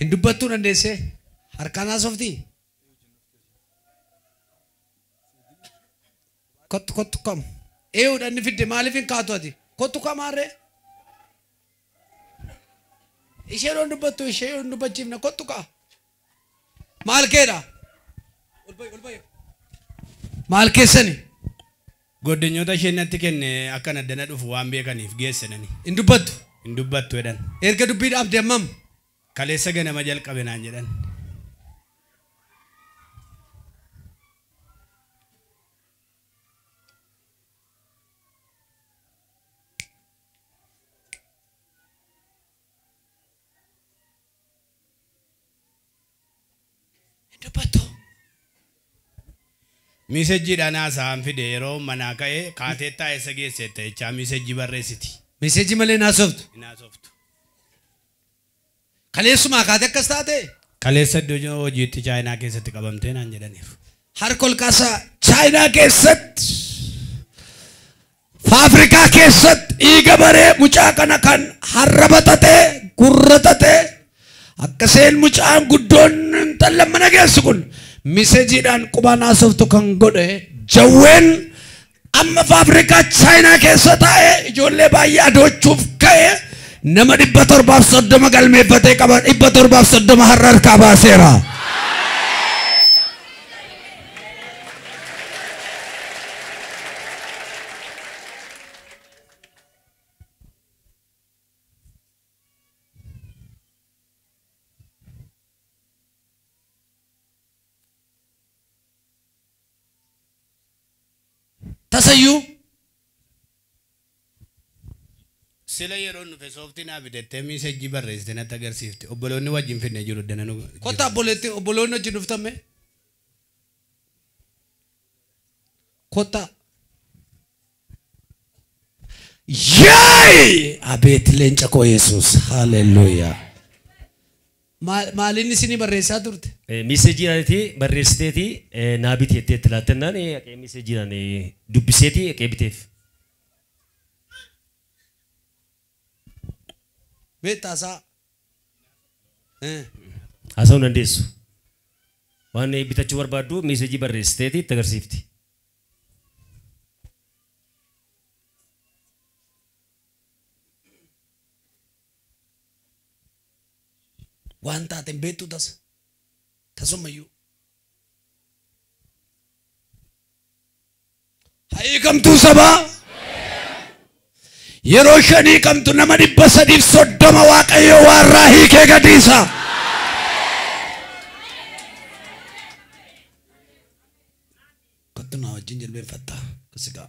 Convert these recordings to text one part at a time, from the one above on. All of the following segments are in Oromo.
Hin dubbattuu dandeessee? Harkaan haasoftii? Kottu kottu kam. Eeyyuudha inni fidde maaliif hin kaatu ati? Kottu kamaarree? Isheen hin dubbattu ishee hin dubbachiifna kottu kaa. maal keedha maal keessani Goddenyoota isheen natti kenne akkan addana dhufu waan beekaniif geessenani. hin dubbattu Hin dubbattu jedhan. erga dubbii dhaabde ammam Kaleessa ganama jalqabe naan jedhan. Hin dubbattu. Miisejjiidhaan haasa'aan fide yeroo manaa ka'e kaateettaa eessa geesseetta jechaa miisejjii barreessiti. Miisejjii malee hin haasoftu. Hin haasoftu. Kaleessumaa kaatee akkas taatee? Kaleessa iddoo hojiitti Chaayinaa keessatti qabamtee naan jedhaniiru. Harka ol kaasaa. Chaayinaa keessatti Faafrikaa keessatti dhiiga baree mucaa kana kan harraba tate, gurra tate, akka seen mucaan guddoon intallan mana geessu kun misejiidhaan qubaan haasoftu kan godhe jawween amma faafrikaa chaayinaa keessa taa'e ijoollee baay'ee adoochuuf ka'e nama dhibba torbaaf soddoma galmeeffatee qaba dhibba torbaaf soddoma har'a harkaa baaseera. tasayyuu sila yeroon dhufe sooftii naa bidettee miisajjii barreessite natti agarsiifte obboloonni wajjin finne jiru dananu kottaa obboleetti obboloonni wajjin dhuftamme Kottaa. Yee! Abeet leenca koo Yesuus. Haleluuyaa. Maal maaliin isinii barreessaa turte? Miiseejiidhaan itti barreessiteeti eh, naa biti jettee itti laattennaan eh, haqee miiseejiidhaan eh, dubbiseeti haqee biteef. Beektaa isaa? Eh. Haasa'uu hin dandeessu. Waan bitachuu barbaaddu miisejii barreessiteeti itti agarsiifti. Waan taate hin beektu tasa. Tasummayyuu. ha hiikamtuu sabaa yeroo shan hiikamtu nama dhibba sadiif soddoma waaqayyo waarraa hiikee gadiisa kottu naa wajjin jilbeenfattaa kasigaa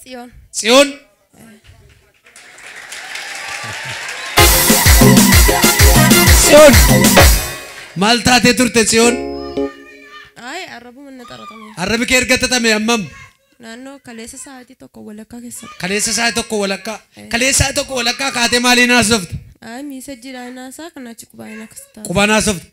Tsiyoon. Tsiyoon. Tsiyoon. Maal taatee turte Tsiyoon? Ayi arrabuma na xaratame. Arrabi kee erga xaxame ammam? Naannoo kaleessa sa'aatii tokko walakkaa keessatti. Kaleessa sa'a tokko walakkaa. Kaleessa sa'a tokko walakkaa kaatee maaliin haasofte? Ayi miisajjiidhaan haasaa kan achi qubaan akkas ta'a. Qubaan haasofte.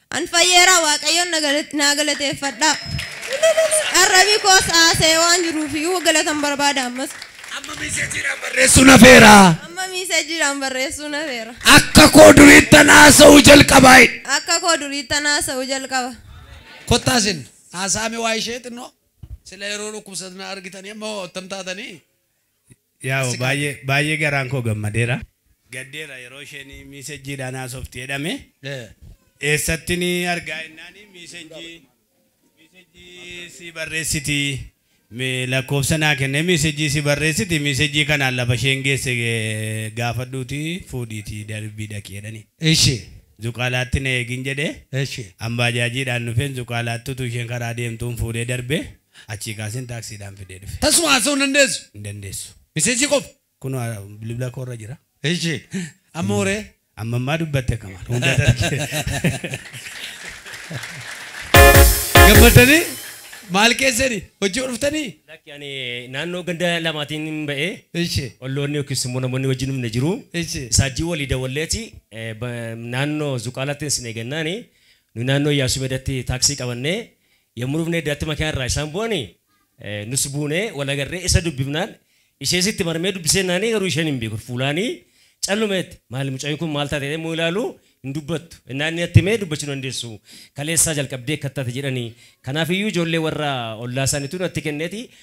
An fayyeeraa waaqayyoon naa galateeffadhaa arrabi koos haasa'ee waan jiruuf galatan barbaada ammas. Amma miiseejiidhaan barreessuun hafeera. Amma miiseejiidhaan barreessuun hafeera. Akka koo duriittan haasa'uu jalqabaa. Akka koo duriittan haasa'uu jalqaba. Kottaa isin haasa'aa mee waa'ee ishee xinnoo. Sila yeroo dhukkubsatan argitanii amma hoo attam taatanii? Yaw Asika baay'ee Addee. baay'ee garaan koo gammadeera. Gaddeera yeroo isheen miisejjiidhaan haasofti jedhame. Eh. Eessattin argaa jennaan miisejjii miisejjii sii barreessiti mi- lakkoofsa naa kennee miisejjii sii barreessiti miisejjii kanaan lafa isheen geesse eh, gaafadhuuti fuudhiiti darbii dhaqi jedhani. Ishi. Zuqaalaatti na eegin jedhee Ishi. an baajaajiidhaan dhufeen zuqaalaatti utuu isheen karaa deemtuun fuudhee darbee Achii kaaseen taaksiidhaan fidee dhufe. Tasuma haasa'uu hin dandeessu? Hin dandeessu. Miseejii qofa? Kunoo bilbila koo irra jira. Eshi. Amma hoo ree? Amma ammaa dubbatte kamaan. Hunda darge. Gammaddanii? Maal keessani? Hojii yoo dhuftanii? Lakki ani naannoo ganda lamaatiin hin ba'ee. Eshi. Olloonni yookiis immoo namoonni wajjin humna jiru. Eshi. Isaajjii walii dawwalleeti naannoo Zuqaalaatti isin eegannaani. Nu naannoo Iyyaasuu Meedaatti taaksii qabannee Yommuu dhufnee iddaatti makiinaa irraa isaan bu'ani, nus buunee wal agarree isa dubbifnaan ishees itti marmee dubbisee jennaanii garuu isheen hin beekun fuulaanii calluma jette. Maali mucayyoon kun maal taate jedhee yommuu ilaalu hin dubbattu. Ennaa inni natti hime dubbachuu dandeessu. Kaleessaa jalqabdee akkas taate jedhani. Kanaaf iyyuu ijoollee warra ollaa isaaniitu natti kenneeti